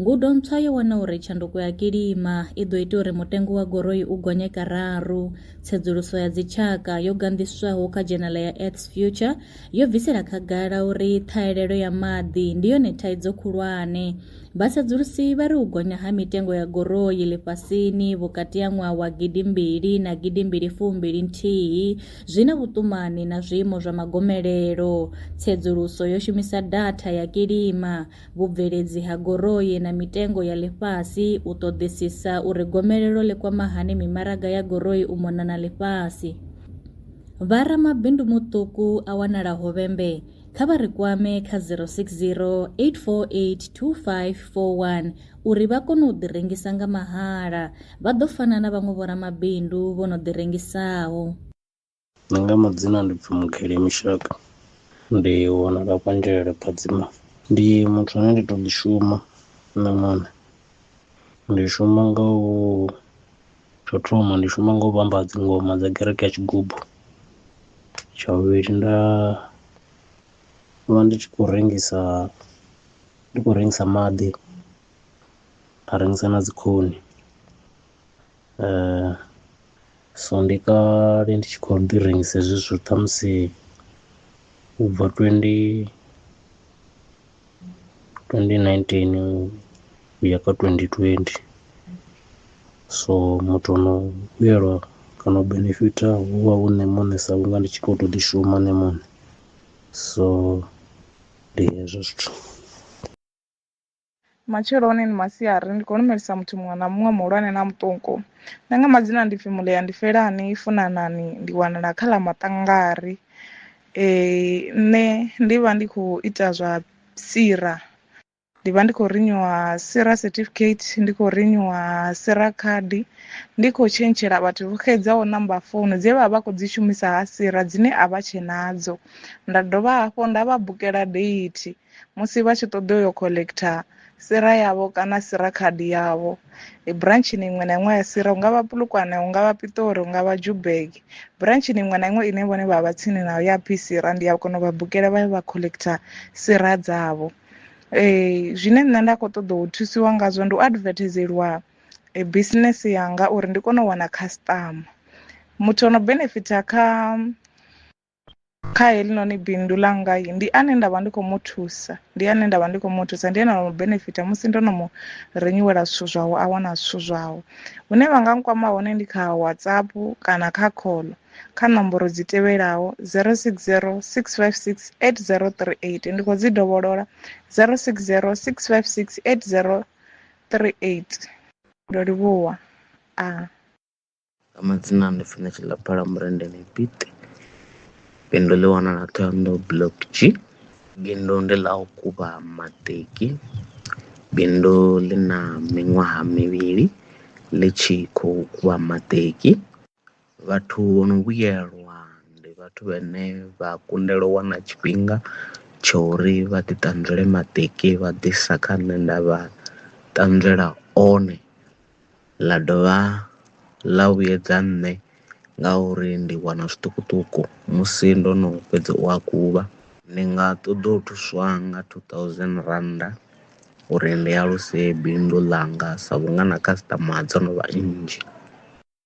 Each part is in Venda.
Ngudo ntswa yo wana uri tshanduko ya kilima i ḓo ita uri mutengo wa goroi u gonye kararu. Tsedzuluso ya dzitshaka yo ganḓiswaho kha dzhenala ya Earth's Future yo bvisela khagala uri ṱhahelelo ya maḓi ndi yone thaidzo khulwane. Vhasedzulusi vha ri u gonya ha mitengo ya goroi ḽifhasini vhukati ha ṅwaha wa gidimbili na gidimbili fumbili nthihi zwi na vhuṱumani na zwiimo zwa magomelelo. Tsedzuluso yo shumisa datha ya kilima vhubveledzi ha goroi na mitengo ya ḽifhasi, u ṱoḓisisa uri gomelelo ḽi kwama hani mimaraga ya goroi u mona na ḽifhasi. Vha ramabindu muṱuku a wanala Hovhembe, kha vha ri kwame kha 060 848 2541 uri vha kone u ḓirengisa nga mahala, vha ḓo fana na vhaṅwe vhoramabindu vho no ḓirengisaho. Nṋe nga madzina ndi pfhi Mugeli Mishaka ndi wanala Kwanzhele Phadzima. Ndi muthu ane ndi to ḓi shuma nṋe muṋe ndi shuma nga u tsho thoma ndi shuma nga u vhamba dzi ngoma dza kereke ya tshigubu. Tsha vhuvhili nda vha ndi tshi khou rengisa ndi khou rengisa maḓi nda rengisa na dzi khuni. So ndi kale ndi tshi khou ḓi rengisa hezwi zwithu ṱhamusi u bva twendi twendi nineteen uya kha twendi twendi so muthu ono vhuyelwa kana u benefitha hu vha hu nṋe muṋe sa vhunga ndi tshi kho to ḓi shuma nṋe muṋe so ndi hezwo zwithu. matsheloni ni masiari ndi khou lumelisa muthu muṅwe na muṅwe muhulwane na muṱuku nṋe nga madzina ndi pfi mulea ndi felani i funanani ndi wanala kha ḽa maṱangari um nṋe ndi vha ndi khou ita zwa sira ndi vha ndi khou rinyuwa sira certificate ndi khou rinyuwa sira card ndi khou tshentshela vhathu vho xedzaho namba founu dze vha vha khou dzi shumisa ha sira dzine a vha tshe nadzo nda dovha hafho nda vha bukela date musi vha tshi ṱoḓa uyo collector sira yavho kana sira card yavho branchini iṅwe na iṅwe ya sira hu nga vha pulukwane hu nga vha pitori hu nga vha jubeg branchini iṅwe na iṅwe ine vhone vha vha tsini nayo ya phi sira ndi ya kona u vha bukela vha vha collector sira dzavho um zwine nṋe nda khou ṱoḓa u thusiwa ngazwo ndi u advertiseliwa eh, business yanga uri ndi kone u wana customer muthu ono benefita kha kha helinoni bindu ḽa ngai ndi ane nda vha ndi khou mu thusa ndi ane nda vha ndi khou mu thusa ndi ane nda mu benefita musi ndo no mu renyiwela zwithu zwawe a wana zwithu zwawe hune vha nga nkwama hone ndi kha whatsapp kana kha call kha nomboro dzi tevhelaho 060 656 8038 ndi khou dzi dovholola 060 656 8038 ndo livhuwa a Nga madzina ndi funa tshiḽa phalamennde ḽi piṱi bindu ḽi wanala ṱhohoyanḓou block G bindu ndi ḽa u kuvha maṱeki bindu ḽi na miṅwaha mivhili ḽi tshi khou kuvha maṱeki vhathu vho no vhuyelwa ndi vhathu vhane vha kundelwa u wana tshifhinga tsha uri vha ḓi ṱanzwele maṱeki vha ḓisa kha nṋe nda vha ṱanzwela one. ḽa dovha ḽa vhuyedza nṋe ngauri ndi wana zwiṱukuṱuku musi ndo no fhedza u a kuvha. Ndi nga ṱoḓa u thuswa nga two thousand rannda uri ndi aluse bindu ḽanga sa vhunga na customer dzo no vha nnzhi.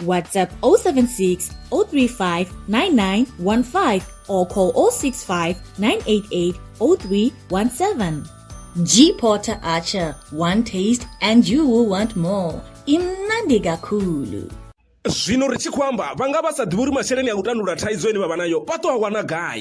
WhatsApp 076 035 9915 or call 065 988 0317. G Porter Archer, one taste and you will want more. Imnandi Gakulu. zwino ri tshi khou amba vha nga vha sa ḓivhi uri masheleni a u tandulula thaidzo ine vha vha nayo vha ṱo a wana gai